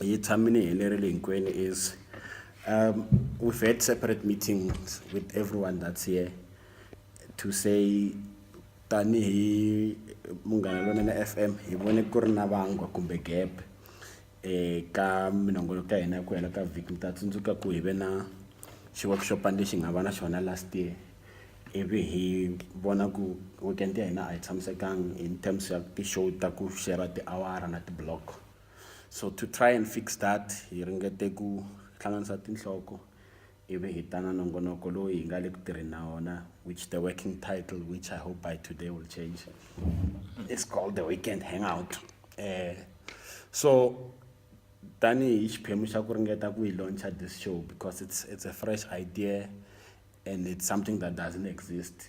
hi tshami ni helerile hinkwenu is um we've had separate meetings with everyone that's here to say tanihi munghana lonene f m hi vone ku ri na vangwa kumbe gap um ka minongolo ka hina ku hela ka vhiki mi ta tsundzuka ku hi ve na xiwakixopani lexi nga va na xona last year ivi hi vona ku weekend ya hina a yi tshamisekanga in terms ya ti-show ta ku shera tiawara na ti-block So to try and fix that, hi ringete ku hlanganisa tinhloko ivi hi ta na nongonoko lowu hi nga le ku tirheni na wona which the working title which i hope by today will change it's called the weekend hangout eh so tanihi xiphemu xa ku ringeta ku yi launcha this show because it's it's a fresh idea and it's something that doesn't exist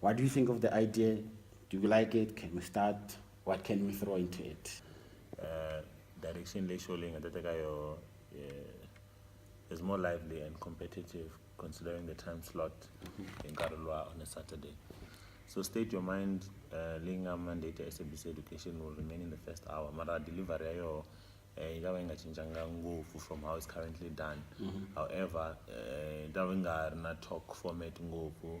What do you think of the idea? Do you like it? Can we start? What can we throw into it? Uh, direction leyi show leyi nga ta teka yo is more lively and competitive considering the time slot hi nkarhi luwa on a saturday so state your mind uh, leyi nga mandate ya sabc education will remain in the first hour mara delivery ya yoho eh, yi ta va yi nga cincanga ngopfu from how it's currently done mm -hmm. however eh, yi ta va yi nga ri na talk format ngopfu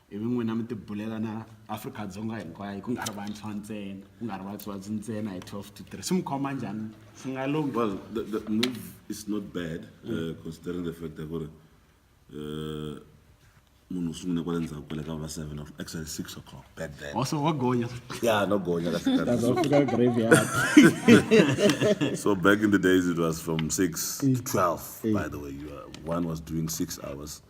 I vi n'wina mi tibulela na Afrika-Dzonga hinkwayo ku nga ri vantshwa ntsena ku nga ri vatswatsi ntsena hi 12 to 3 swi mi khoma njhani swi nga lunghi Well, the, the move is not bad, uh, considering the fact that gore uh, munhu u sungule kwale ndzhaku kwale ka va seven o'clock, actually six o'clock back then. also wa gonya Ya no gonya ka sikhathi. fika graveyard So back in the days it was from six to twelve. By the way, you are, one was doing six hours.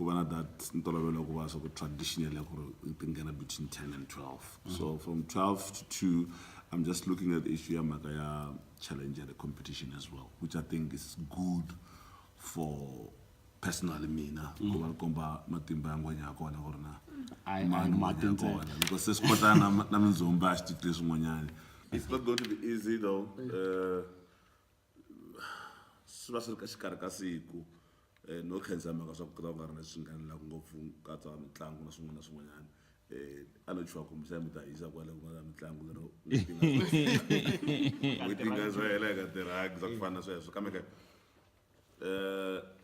ku va na that ntolovelo wa ku va swa ku traditional ya ku ri ti nghena between 10 and 12 mm. so from 12 to 2 i'm just looking at issue ya mhaka ya challenge ya the competition as well which i think is good for personally mina mm. ku va ri komba matimba ya ngwenya ya kona ku ri na mani ngwenya ya kona loko se swi kota na mindzumba a swi titwi swin'wanyana it's not going to be easy though uh, swi va swi ri ka xikarhi ka siku no khensa hi mhaka swa ku ku ta va ku nga ri na leswi nghenelelaka ngopfu ku katsa mitlangu na swin'wana na swin'wanyana a no chuha kumbe xana mi ta hisa kwale ku nga na mitlangu lero n'hweti nga n'hweti nga si hela hi nga tirhangi swa ku fana na sweswo kambe ke um